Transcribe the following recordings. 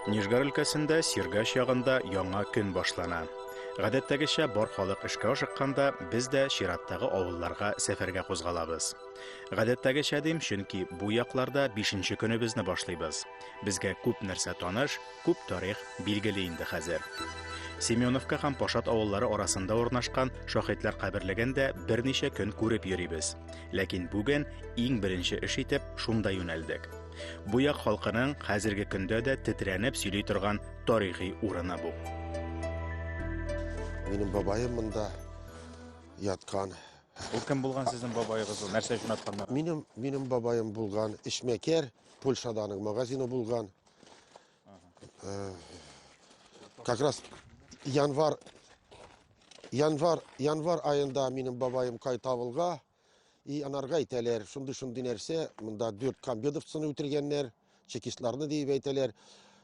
Нижгар өлкәсендә Сиргач ягында яңа көн башлана. Гадәттәгечә бар халык эшкә ашыкканда, без дә чираттагы авылларга сәфәргә кузгалабыз. Гадәттәгечә дим, чөнки бу якларда 5 нче көнебезне башлыйбыз. Безгә күп нәрсә таныш, Күп тарих билгеле инде хәзер. Семеновка һәм Пашат авыллары арасында урнашкан шаһитлар каберлеген дә берничә көн күреп йөрибез. Ләкин бүген иң беренче эш итеп шунда юнәлдек. Бу як халкының хәзерге көндә дә тетрәнеп сөйли торган тарихи урыны бу. Минем бабаем монда яткан. Ул кем булган сезнең бабаегыз? Ул нәрсә өчен атканнар? Минем минем бабаем булган эшмәкәр, Польшаданың магазины булган. Э, как раз январь январь январь айында минем бабаем кайта авылга и анарга әйтәләр шундый шундый нәрсә монда дүрт комбедовцыны үтергәннәр чекистларны диеп әйтәләр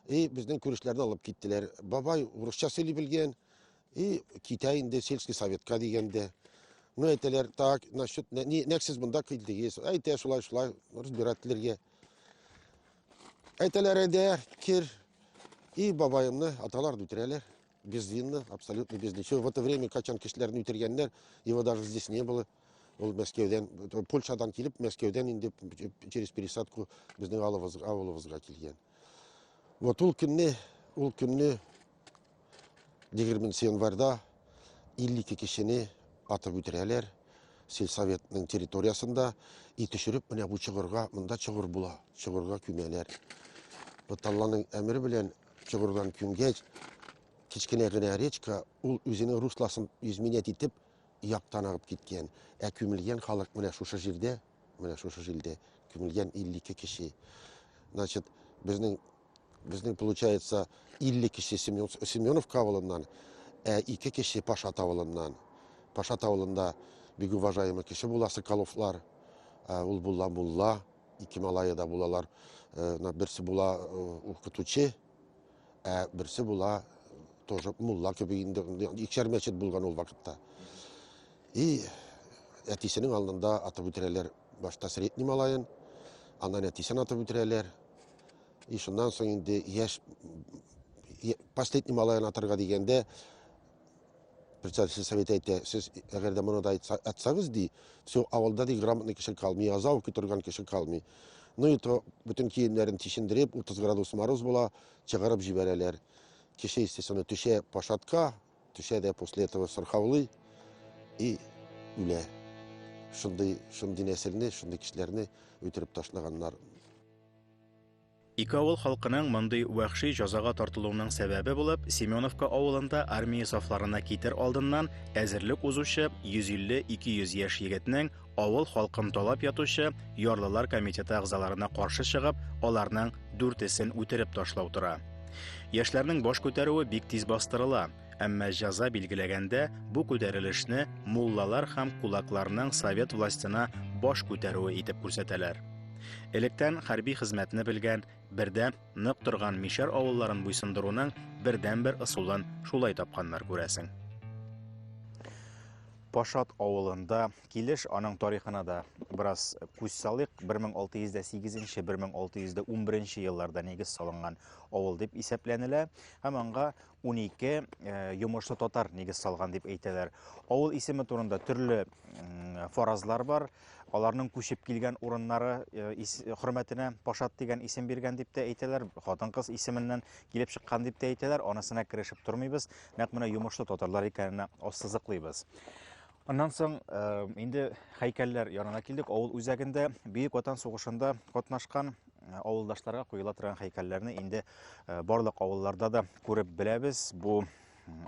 и безнең күрешләрне алып киттеләр бабай урысча сөйли белгән и китә инде сельский советка дигәндә ну әйтәләр так насчет нәк сез монда килдегез әйтә шулай шулай разбирательләргә Әйтәләр инде, кир и бабаемны аталар үтерәләр. Безвинно, абсолютно без ничего. В это время качан кешеләрне үтергәннәр, его даже здесь не было. Ул Мәскәүдән, Польшадан килеп, Мәскәүдән инде через пересадку безнең авылыбызга килгән. Вот ул көнне, ул көнне 20 январьда 52 кешене атып үтерәләр сельсоветның территориясендә и төшереп менә бу чыгырга монда чыгыр була чыгырга күмәләр вот алланың әмере белән чыгырдан күмгәч кечкенә генә речка ул үзенең русласын изменять итеп яктан агып киткән ә күмелгән халык менә шушы җирдә менә шушы җирдә күмелгән 52 кеше значит безнең Безнең получается 50 кеше Семенов кавылыннан, ә 2 кеше Паша тавылыннан. Паша тавылында бик уважаемый кеше була Соколовлар. Ә, ул була мулла, ике малае да булалар. Э, на берсе була э, укытучы, ә берсе була тоже мулла кебек инде икшәр мәчет булган ул вакытта. И әтисенең алдында атып үтерәләр башта средний малаен, аннан әтисен атып үтерәләр. И шуннан соң инде яшь последний малаен атырга дигәндә председатель совет әйтә, сез әгәр дә моны да атсагыз ди, все авылда ди грамотный кеше калмый, яза укый торган кеше калмый. Ну и то бөтен киемнәрен тишендереп, 30 градус мороз була, чыгарып җибәрәләр. Кеше, естественно, төшә пашатка, төшә дә после этого сырхаулый и үлә. Шундый, шундый нәселне, шундый кешеләрне үтереп ташлаганнар. Ике авыл халкының мондый вәхши җазага тартылуының сәбәбе булып Семеновка авылында армия сафларына китер алдыннан әзерлек узучы 150-200 яшь егетнең авыл халкын талап ятучы ярлылар комитеты әгъзаларына каршы чыгып, аларның дүртесен үтереп ташлау тора. Яшьләрнең баш күтәрүе бик тиз бастырыла. Әмма җәза билгеләгәндә бу күтәрелешне муллалар һәм кулакларның совет властена баш күтәрүе итеп күрсәтәләр. Электән хәрби хезмәтне белгән, бердә нык торган мишәр авылларын буйсындыруның бердәнбер ысулын шулай тапканнар күрәсең. Пашат авылында килеш аның тарихына да бераз күз салыйк. 1608-1611 елларда нигез салынган авыл дип исәпләнелә һәм аңга 12 йомышлы татар нигез салган дип әйтәләр. Авыл исеме турында төрле фаразлар бар. Аларның күчеп килгән урыннары хөрмәтенә Пашат дигән исем биргән дип тә әйтәләр. Хатын-кыз исеменнән килеп чыккан дип тә әйтәләр. Анысына керешеп тормыйбыз. Нәкъ менә йомышлы татарлар икәненә ассызыклыйбыз. Аннан соң инде хәйкәлләр янына килдек. Авыл үзәгендә Бөек Ватан сугышында катнашкан авылдашларга куела торган хәйкәлләрне инде барлык авылларда да күреп беләбез. Бу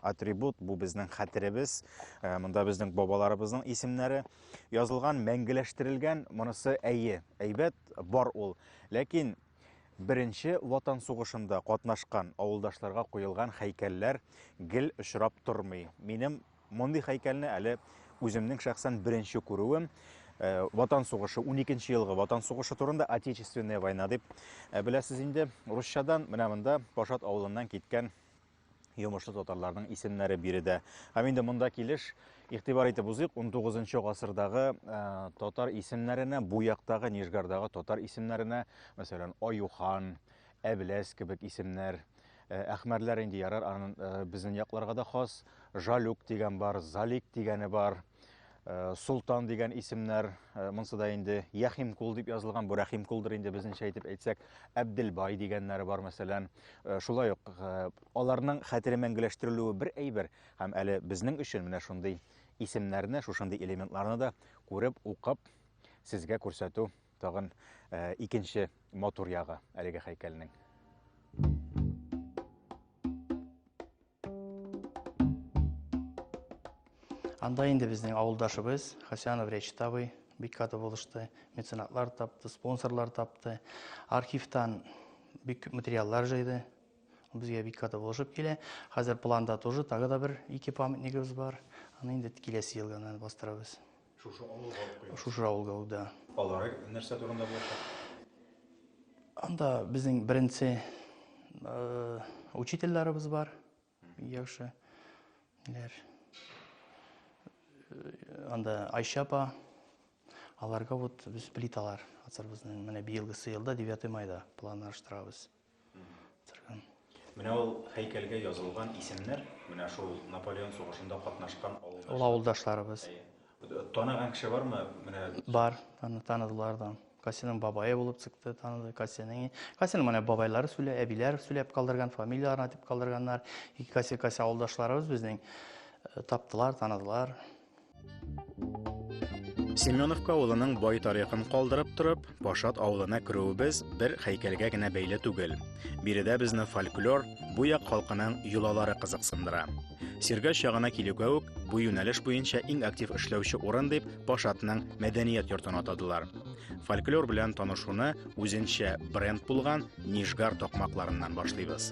атрибут, бу безнең хәтеребез. Монда безнең бабаларыбызның исемнәре язылган, мәңгеләштерелгән. Монысы әйе, әйбәт, бар ул. Ләкин беренче ватан сугышында катнашкан авылдашларга куелган хәйкәлләр гел очрап тормый. Минем Мондый хәйкәлне әле үземнең шәхсән беренче күрүем э, Ватан сугышы, 12 елгы Ватан сугышы турында Отечественная война дип э, беләсез инде. Русчадан менә монда Пашат авылыннан киткән йомышлы татарларның исемнәре биредә. Һәм инде монда килеш игътибар итеп узыйк, 19 гасырдагы э, татар исемнәренә, бу яктагы Нижгардагы татар исемнәренә, мәсәлән, Аюхан, Әбеләс кебек исемнәр. Э, әхмәрләр инде ярар, анын э, безнең якларга да хас. Жалюк дигән бар, Залик дигәне бар. Э, Султан дигән исемнәр, монсы да инде Яхимкул дип язылган, бу Рәхимкулдыр инде безнеңчә әйтеп әйтсәк, Әбделбай дигәннәре бар мәсәлән. Шулай ук аларның хәтере мәңгеләштерелүе бер әйбер, һәм әле безнең өчен менә шундый исемнәрне, шушындый элементларны да күреп, укып, сезгә күрсәтү Тагын икенче матур ягы әлеге хәйкәлнең. Анда инде безнең авылдашыбыз Хасянов Речит абый бик каты булышты. Меценатлар тапты, спонсорлар тапты. Архивтан бик күп материаллар җыйды. Безгә бик каты булышып килә. Хәзер планда тоже тагы да бер ике памятнигыбыз бар. Аны инде киләсе елга бастырабыз. Шушы авылга алып куйдыгыз. Шушы авылга ул, да. Алары нәрсә турында булачак? Анда безнең беренче э, учительләребез бар. Яхшы. Ниләр? Э, анда Айша апа. Аларга вот без плиталар ацарбызның менә быелгы елда 9 майда планлаштырабыз. Менә ул һәйкәлгә язылган исемнәр, менә шул Наполеон сугышында катнашкан авылдашлар. Авылдашларыбыз. Танаган кеше бармы? Менә бар, аны таныдылар да. Касиның бабайы булып чыкты, таныды Касиның. Касиның менә бабайлары сүлә, әбиләр сүләп калдырган, фамилияләрен атып калдырганнар. Ике Каси Каси авылдашларыбыз безнең э, таптылар, таныдылар. Семеновка авылының бай тарихын калдырып торып, Пашат авылына керүебез бер хәйкәлгә генә бәйле түгел. Биредә безне фольклор, бу як халкының йолалары кызыксындыра. Сиргач ягына килүгә үк бу юнәлеш буенча иң актив эшләүче урын дип Пашатның мәдәният йортын атадылар. Фольклор белән танышуны үзенчә бренд булган Нижгар токмакларыннан башлыйбыз.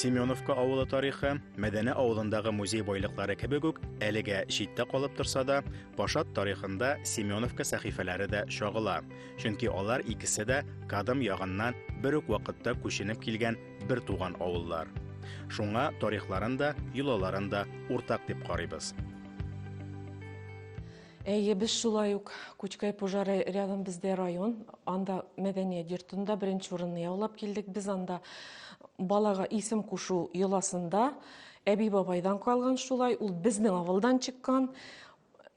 Семеновка авылы тарихы, Мәдәне авылындагы музей байлыклары кебек үк, әлегә читтә калып торса да, Пашат тарихында Семеновка сәхифәләре дә чагыла. Чөнки алар икесе дә кадым ягыннан бер үк вакытта күченеп килгән бер туган авыллар. Шуңа тарихларын да, йолаларын да уртак дип карыйбыз. Әйе, без шулай ук Күчкәй пожары рядом бездә район, анда мәдәният йортында беренче урынны яулап килдек. Без анда балага исем кушу йоласында әби бабайдан калган шулай, ул безнең авылдан чыккан.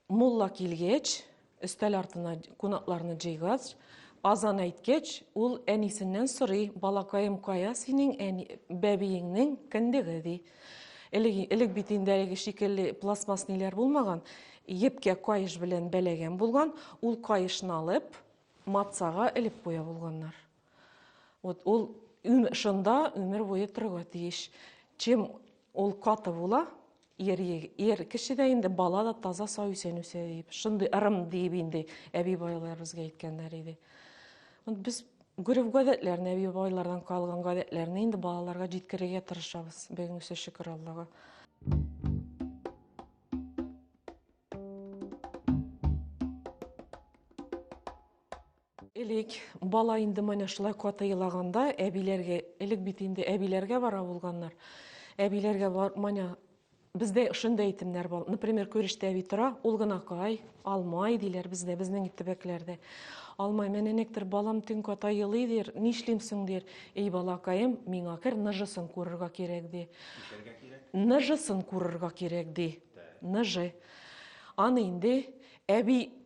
Мулла килгәч, Өстәл артына кунакларны җыйгач, азан әйткәч, ул әнисеннән сорый, балакаем, кая синең әни, бәбиеңнең кендеге, ди. Элек, элек бит инде әлеге шикелле пластмасс ниләр булмаган, епкә каеш белән бәләгән булган, ул каешны алып, матсага элеп куя булганнар. Вот ул шунда өмер буе торырга тиеш. Чем ул каты була, ер, ер кеше дә инде бала да таза сау исән үсә дип шундый ырым диеп инде әби байлар безгә әйткәннәр иде без гөреф гадәтләрен әби байлардан калган гадәтләрне инде балаларга җиткерергә тырышабыз бүгенгесе шөкер аллага Элек, бала инде менә шулай каты елаганда, әбиләргә, элек бит инде әбиләргә бара булганнар. Әбиләргә бар, менә бездә шундый әйтемнәр бар. Например, күрештә әби тора, ул гына кай, алмай диләр бездә, безнең төбәкләрдә. Алмай, менә нектер балам төн ката елый дир, нишлим соң дир. Эй балакаем, миңа кер ныжысын күрергә кирәк ди. Ишәргә кирәк. Ныжысын күрергә кирәк ди. Ныжы. Аны инде әби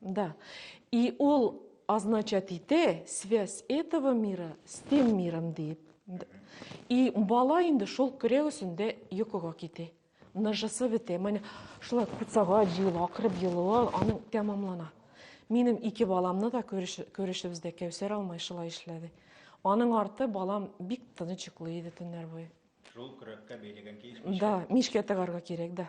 Да. И ол означать ите связь этого мира с тем миром дейт. И бала инде шул көрәк өстендә йокыга китә. Ныжысы бетә. Менә шулай курсага җыела, акырып елуы аның тәмамлана. Минем ике баламны да күрешебездә Кәүсәр алмай шулай эшләде. Аның арты балам бик тыныч йоклый иде төннәр буе. Шул көрәккә бәйләгән киеш мичкә. Да, мичкә тыгарга кирәк, да.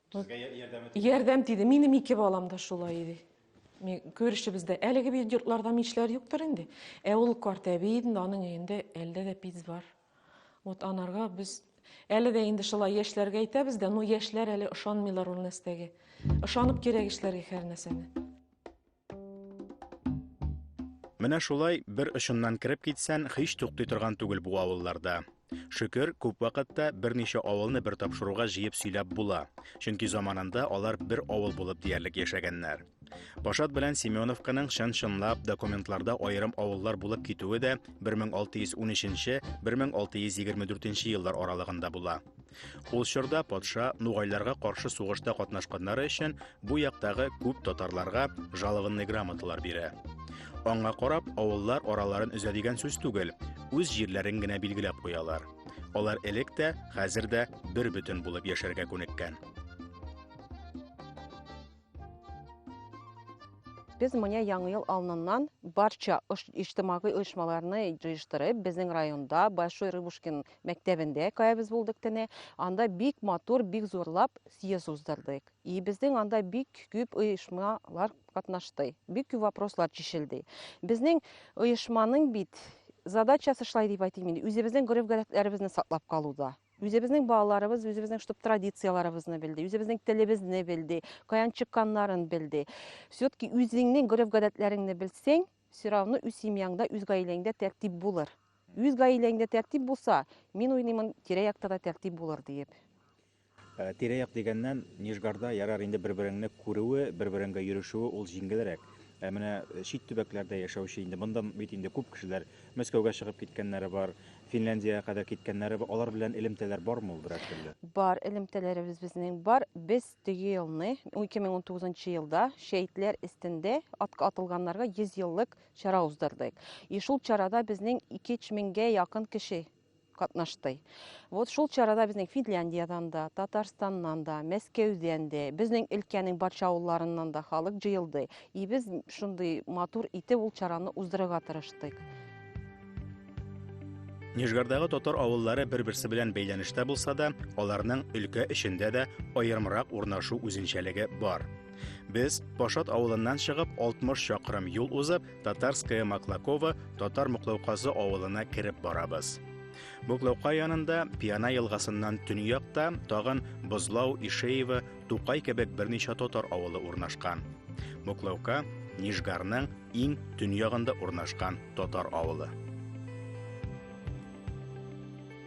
Сезгә ярдәме тиде? Ярдәм тиде. Минем ике балам да шулай иде. Күрешебездә әлеге бит йортларда мичләр юктыр инде. Ә ул карт әби инде, аның өендә әлдә дә пиц бар. Вот анарга без әле дә инде шулай яшьләргә әйтәбез дә, ну яшьләр әле ышанмыйлар ул нәрсәгә. Ышанып кирәк эшләргә һәр нәрсәне. Менә шулай бер очыннан кереп китсән, һич туктый торган түгел бу авылларда. Шөкер, күп вакытта берничә авылны бер тапшыруга җыеп сөйләп була. Чөнки заманында алар бер авыл булып диярлек яшәгәннәр. Пашат белән Семеновканың чын-чынлап документларда аерым авыллар булып китүе дә 1613-1624 еллар аралыгында була. Ул чорда патша нугайларга каршы сугышта катнашканнары өчен бу яктагы күп татарларга жалованный грамоталар бирә. Аңа карап, авыллар араларын өзә дигән сүз түгел, үз җирләрен генә билгеләп куялар. Алар элек тә, хәзер дә бер бөтен булып яшәргә күнеккән. Без менә Яңа ел алдыннан барча иҗтимагый оешмаларны җыештырып, безнең районда Большой Рыбушкин мәктәбендә каябыз булдык тене. Анда бик матур, бик зурлап съезд уздырдык. И безнең анда бик күп оешмалар катнашты. Бик күп вопрослар чишелде. Безнең оешманың бит задачасы шулай дип әйтим инде, үзебезнең гореф-гадәтләребезне саклап калуда. Үзебезнең балаларыбыз үзебезнең штаб традицияләребезне белде, үзебезнең телебезне белде, каян чыкканнарын белде. Все-таки үзеңнең гореф-гадәтләреңне белсәң, Сорауны үз семьяңда, үз гаиләңдә тәртип булыр. Үз гаиләңдә тәртип булса, мин уйлыймын, тирә-якта да тәртип булыр диеп. Э, тирә-як дигәннән, Нижгарда ярар инде бер-береңне күрүе, бер-береңгә йөрешүе ул җиңелрәк. Ә менә э, чит төбәкләрдә яшәүче инде монда бит инде күп кешеләр Мәскәүгә чыгып киткәннәре бар, Финляндиягә кадәр киткәннәре бар. Алар белән элемтәләр бармы ул берәр төрле? Бар элемтәләребез безнең бар. Без Теге елны, 2019 елда шәһитләр эстендә атка атылганнарга 100 еллык чара уздырдык. И шул чарада безнең 2-3 меңгә якын кеше катнашты. Вот шул чарада безнең Финляндиядән дә, Татарстаннан да, Мәскәүдән дә, безнең өлкәнең барча авылларыннан да халык җыелды. И без шундый матур итеп ул чараны уздырырга тырыштык. Нижгардагы татар авыллары бер-берсе белән бәйләнештә булса да, аларның өлкә эчендә дә аерымрак урнашу үзенчәлеге бар. Без Пашат авылыннан чыгып 60 чакрым юл узып, Татарская Маклакова татар Муклауказы авылына кереп барабыз. Буклаука янында Пиана елгасыннан төньякта тагын Бозлау, Ишеево, Тукай кебек берничә татар авылы урнашкан. Моклаука Нижгарның иң төньягында урнашкан татар авылы.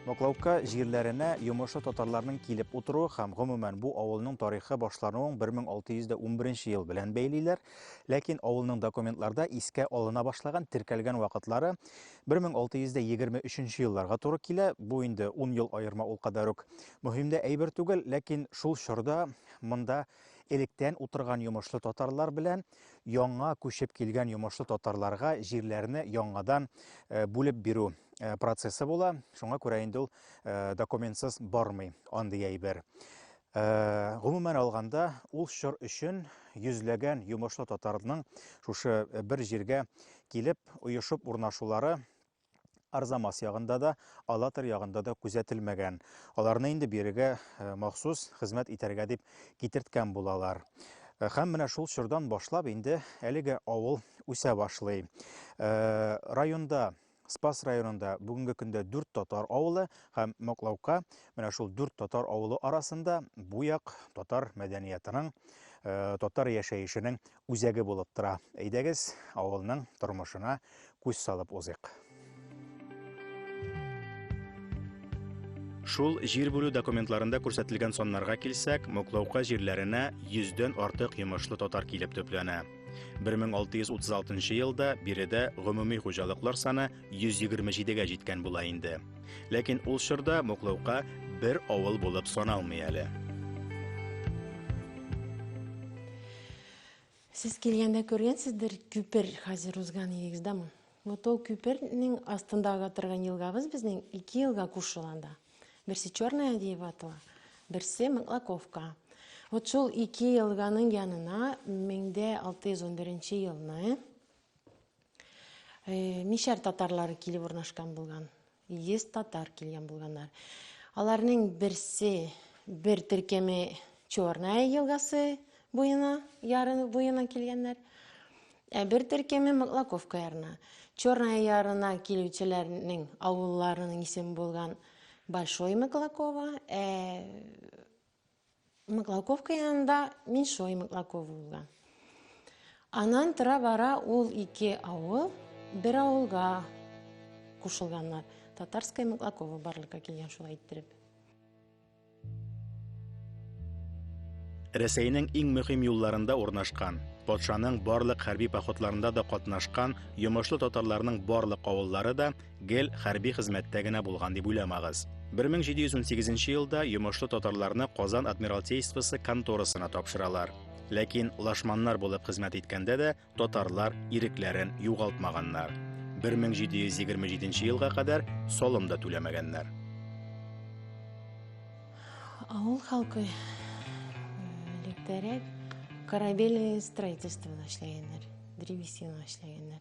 Моклаука җирләренә йомышлы татарларның килеп утыруы һәм гомумән бу авылның тарихы башлануын 1611 ел белән бәйлиләр. Ләкин авылның документларда искә алына башлаган теркәлгән вакытлары 1623 елларга туры килә. Бу инде 10 ел аерма ул кадәр үк. Мөһим дә әйбер түгел, ләкин шул чорда монда электән утырган йомышлы татарлар белән яңа күчеп килгән йомышлы татарларга җирләрне яңадан э, бүлеп бирү э, процессы була. Шуңа күрә инде ул э, документсыз бармый андый әйбер. Гомумән алганда, ул чор өчен йөзләгән йомышлы татарның шушы бер җиргә килеп, оешып урнашулары Арзамас ягында да, Алатырь ягында да күзәтелмәгән. Аларны инде бирегә э, махсус хезмәт итәргә дип китерткән булалар. Э, һәм менә шул чордан башлап инде әлеге авыл үсә башлый. Э, районда Спас районында бүгінгі күндө дүрт татар ауылы һәм Моклаука менә шул дүрт татар ауылы арасында буяк татар мәдәниятының, татар яшәешінің үзәге булып тора. Әйдәгез, авылның тормышына күз салып узыйк. Шул җир бүлү документларында күрсәтелгән саннарга килсәк, Моклаука җирләренә 100 дән артык йомышлы татар килеп төпләнә. 1636 елда биредә гомуми хуҗалыклар саны 127 гә җиткән була инде. Ләкин ул чорда Моклаука бер авыл булып саналмый әле. Сез килгәндә күргәнсездер, күпер хәзер узган идегез, да мы? Вот ул күпернең астында ага торган елгабыз безнең ике елга кушыла анда. Берсе Черная Адеева атала, берсе Маклаковка. Вот шул ике елганың янына 1611 елны Мишәр татарлары килеп урнашкан булган. 100 татар килгән булганнар. Аларның берсе бер төркеме Чорная елгасы буена, ярын буена килгәннәр. Ә бер төркеме Маклаковка ярына. Чорная ярына килүчеләрнең авылларының исеме булган Большой Маклакова, ә Мыклаковка янында Меньшой Мыклаков улы. Анан тора-бара ул ике авыл бер авылга кушылганнар. Татарская Мыклакова барлыкка килгән шулай иттереп. Рәсәйнең иң мөһим юлларында урнашкан, патшаның барлык хәрби походларында да катнашкан йомышлы татарларның барлык авыллары да Гел хәрби хезмәттә генә булган дип уйламагыз. 1718 елда йомышлы татарларны Казан адмиралтействосы конторасына тапшыралар. Ләкин лашманнар булып хезмәт иткәндә дә татарлар ирекләрен югалтмаганнар. 1727 елга кадәр солым да түләмәгәннәр. Авыл халкы электәрәк корабельное строительство эшләгәннәр, древесина эшләгәннәр.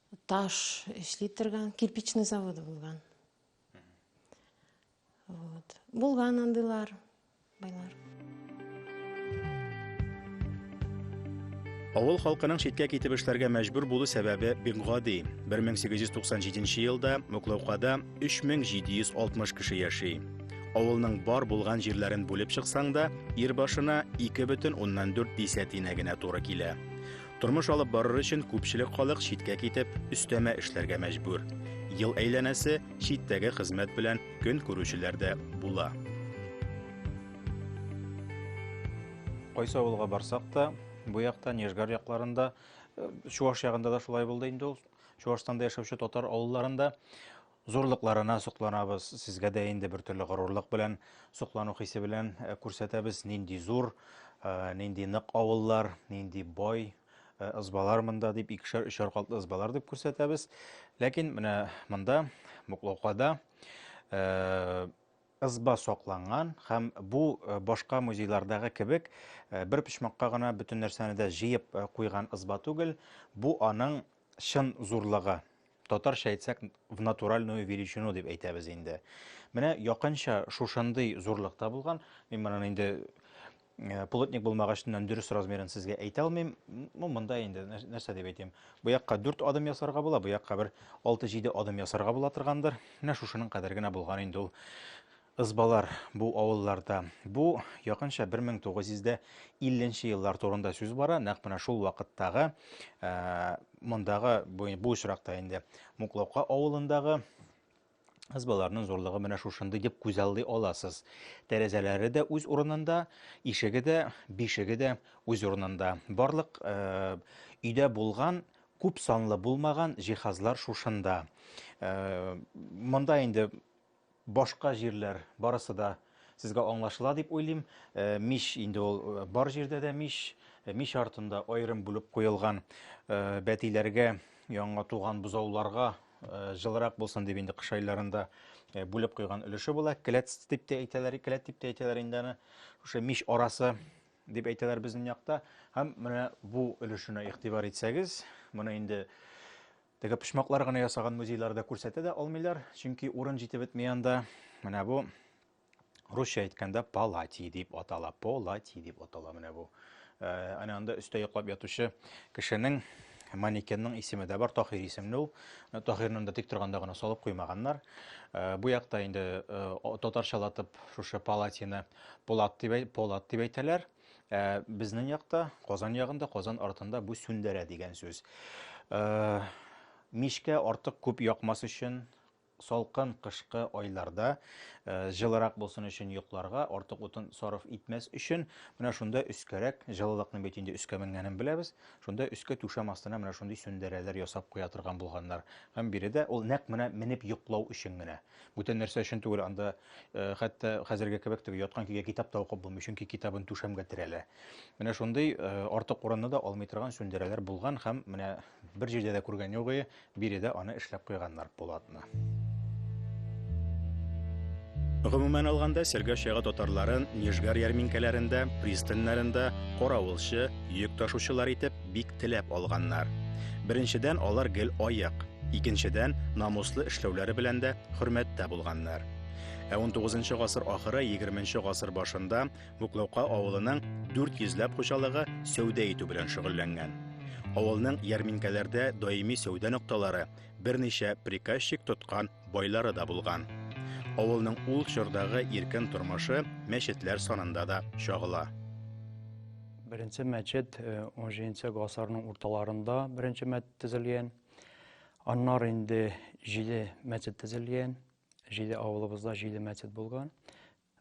таш эшли торган кирпичный заводы булган вот булган андыйлар байлар Авыл халкының читкә китеп эшләргә мәҗбүр булу сәбәбе бик гади. 1897 елда Муклаукада 3760 кеше яши. Авылның бар булган җирләрен бүлеп чыксаң да, ир башына 2,4 десятина генә туры килә. Тормыш алып барыр өчен күпчелек халык читкә китеп, өстәмә эшләргә мәҗбүр. Ел әйләнәсе читтәге хезмәт белән көн күрүчеләр дә була. Кайсы авылга барсак та, бу якта Нежгар якларында, э, Чуаш ягында да шулай булды инде ул. Чуашстанда яшәүче татар авылларында Зурлыкларына сокланабыз, сезгә дә инде бер төрле горурлык белән, соклану хисе белән э, күрсәтәбез, нинди зур, э, нинди нык авыллар, нинди бай э, ызбалар монда дип, икешәр, өчәр катлы ызбалар дип күрсәтәбез. Ләкин менә монда, Муклаукада, э, ызба сокланган һәм бу э, башка музейлардагы кебек э, бер почмакка гына бөтен нәрсәне дә җыеп э, куйган ызба түгел, бу аның чын зурлыгы. Татарча әйтсәк, в натуральную величину дип әйтәбез инде. Менә якынча шушындый зурлыкта булган, мин моны инде э, плотник булмагачтан дөрес размерын сезгә әйтә алмыйм. Ну, монда инде нәрсә дип әйтәм? Бу якка 4 адым ясарга була, бу якка бер 6-7 адым ясарга була торгандыр. Менә шушының кадәр генә булган инде ул Ызбалар бу авылларда. Бу якынча 1950 еллар турында сүз бара. Нәкъ менә шул вакыттагы э, мондагы бу, бу очракта инде Муклаука авылындагы Ызбаларның зурлыгы менә шушындый дип күз алды аласыз. Тәрәзәләре дә үз урынында, ишеге дә, бишеге дә үз урынында. Барлык э, өйдә булган күп санлы булмаган җиһазлар шушында. Э, монда инде Башка җирләр барысы да сезгә аңлашыла дип уйлыйм. Мич инде ул бар җирдә дә мич. Мич артында аерым бүлеп куелган бәтиләргә, яңа туган бозауларга җылырак булсын дип инде кыш айларында бүлеп куйган өлеше була. Келәт дип тә әйтәләр, келәт дип тә әйтәләр инде аны. Шушы мич арасы дип әйтәләр безнең якта. Һәм менә бу өлешенә игътибар итсәгез, моны инде Теге почмаклар гына ясаган музейларда күрсәтә дә алмыйлар, чөнки урын җитеп бетми анда. Менә бу русча әйткәндә палати дип атала. Полати дип атала менә бу. Э, әнә анда өстә йоклап ятучы кешенең манекенның исеме дә бар, Тахир исемле ул. Э, Тахирны да тик торганда гына салып куймаганнар. Э, бу якта инде татарчалатып шушы палатины Полат дип Полат дип әйтәләр. Ә безнең якта, Казан ягында, Казан артында бу сүндерә дигән сүз. Ә, мичкә артык күп якмас өчен, салкын кышкы айларда ә, җылырак булсын өчен йокларга, артык утын сарыф итмәс өчен, менә шунда өскәрәк, җылылыкны бит инде өскә менгәнен беләбез, шунда өскә түшәм астына менә шундый сүндерәләр ясап куя торган булганнар. Һәм биредә ул нәкъ менә менеп йоклау өчен генә. Бүтән нәрсә өчен түгел, анда хәтта хәзерге кебек теге яткан көйгә китап та укып булмый, чөнки китабын түшәмгә терәлә. Менә шундый артык урынны да алмый торган сүндерәләр булган һәм менә бер җирдә дә күргән югы, биредә аны эшләп куйганнар Пулатны. Гомумән алганда, Сергә чагы татарларын Нижгар ярминкәләрендә, пристаньнарында каравылчы, йөк ташучылар итеп бик теләп алганнар. Беренчедән, алар гел аек, икенчедән, намуслы эшләүләре белән дә хөрмәттә булганнар. Ә 19 гасыр ахыры 20 гасыр башында Буклаука авылының 400 ләп хуҗалыгы сәүдә итү белән шөгыльләнгән. Авылның ярминкәләрдә даими сәүдә нокталары, берничә приказчик тоткан байлары да булган. Авылның ул чордагы иркен тормышы мәчетләр санында да чагыла. Беренче мәчет 17 гасырның урталарында беренче мәчет төзелгән. Аннар инде җиде мәчет төзелгән. Җиде авылыбызда җиде мәчет булган.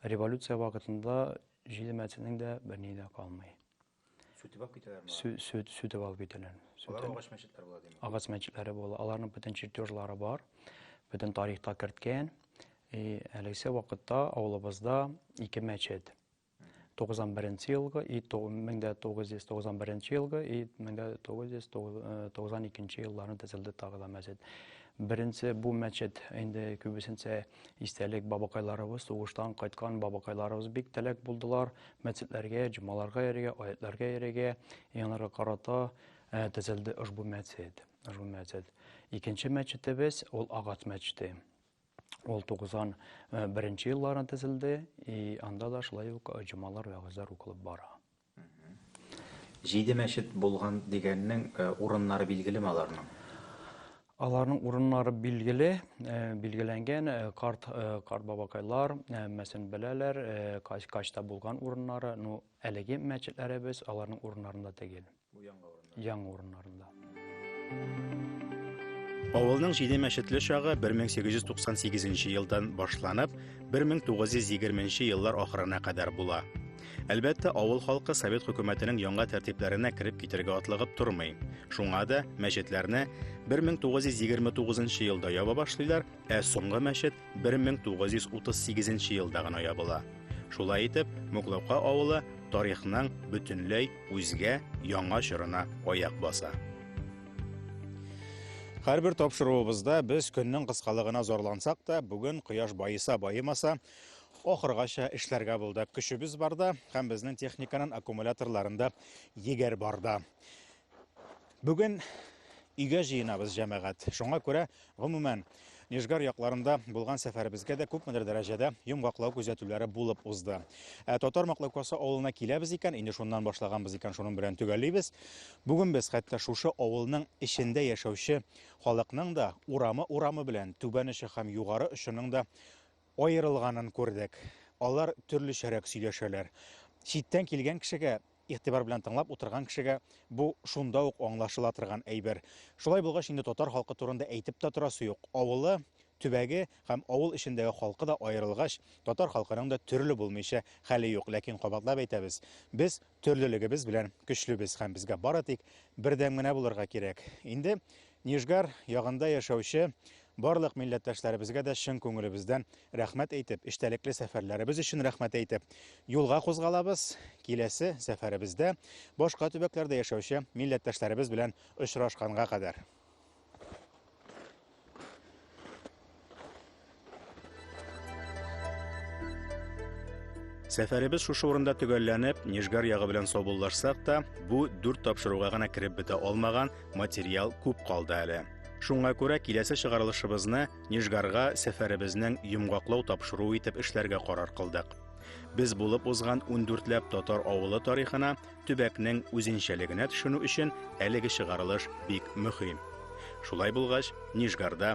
Революция вакытында җиде мәчетнең дә берни дә калмый. Сүтеп алып китәләр ма? Сүтеп алып китәләр. Алар агач мәчетләр була димме? Агач мәчетләре була. Аларның бөтен чертежлары бар. Бөтен тарихта керткән. И әлегә вакытта авылыбызда ике мәчет. 91 елгы и 1991 елгы и 1992 елларны төзелде тагы да мәчет. Беренче бу мәчет инде күбесенчә истәлек бабакайларыбыз, сугыштан кайткан бабакайларыбыз бик теләк булдылар мәчетләргә, җомаларга йөрергә, аятларга йөрергә, яңарга карата э, төзелде ошбу мәчет. Ошбу мәчет. Икенче мәчетебез ул агач мәчете. Ул 91-нче елларда төзелде, и анда да шулай ук җомалар вәгазьләр укылып бара. Җиде мәчет булган дигәннең э, урыннары билгеле ме аларның? Аларның урыннары билгеле, э, билгеләнгән э, карт карт бабакайлар мәсен беләләр, качта булган урыннары, ну әлеге мәчетләребез аларның урыннарында түгел. Бу яңа урыннар. Яңа урыннарында. Авылның җиде мәчетле чагы 1898 елдан башланып, 1920 еллар ахырына кадәр була. Әлбәттә, авыл халкы совет хөкүмәтенең яңа тәртипләренә кереп китергә атлыгып тормый. Шуңа да мәчетләрне 1929 елда ява башлыйлар, ә соңгы мәчет 1938 елда гына ябыла. Шулай итеп, Муклака авылы тарихның бөтенләй үзгә яңа чорына аяк баса. Һәрбер тапшыруыбызда без көннең кыскалыгына зарлансак та, бүген кояш баеса баемаса, ахыргача эшләргә булдык. Көчебез барда һәм безнең техниканың аккумуляторларында егәр барда. Бүген өйгә җыенабыз, җәмәгать. Шуңа күрә, гомумән, Нижгар якларында булган сәфәребезгә дә күпмедер дәрәҗәдә йомгаклау күзәтүләре булып узды. Ә Татар Маклакасы авылына киләбез икән, инде шуннан башлаганбыз икән, шуның белән төгәллибез. Бүген без хәтта шушы авылның эчендә яшәүче халыкның да урамы-урамы белән түбән очы һәм югары очының да аерылганын күрдек. Алар төрлечәрәк сөйләшәләр. Читтән килгән кешегә Игътибар белән тыңлап утырган кешегә бу шунда ук аңлашыла торган әйбер. Шулай булгач, инде татар халкы турында әйтеп тә торасы юк. Авылы, төбәге һәм авыл эчендәге халкы да аерылгач, татар халкының да төрле булмыйча хәле юк. Ләкин кабатлап әйтәбез, без төрлелегебез белән көчлебез һәм безгә бары тик бердәм генә булырга кирәк. Инде Нижгар ягында яшәүче барлык милләттәшләребезгә дә чын күңелебездән рәхмәт әйтеп, эчтәлекле сәфәрләребез өчен рәхмәт әйтеп, юлга кузгалабыз, киләсе сәфәребездә башка төбәкләрдә яшәүче милләттәшләребез белән очрашканга кадәр. Сәфәребез шушы урында төгәлләнеп, Нижгар ягы белән саубуллашсак та, бу дүрт тапшыруга гына кереп бетә алмаган материал күп калды әле. Шуңа күрә киләсе чыгарылышыбызны Нижгарга сәфәребезнең йомгаклау тапшыруы итеп эшләргә карар кылдык. Без булып узган ундүртләп татар авылы тарихына, төбәкнең үзенчәлегенә төшенү өчен әлеге чыгарылыш бик мөһим. Шулай булгач, Нижгарда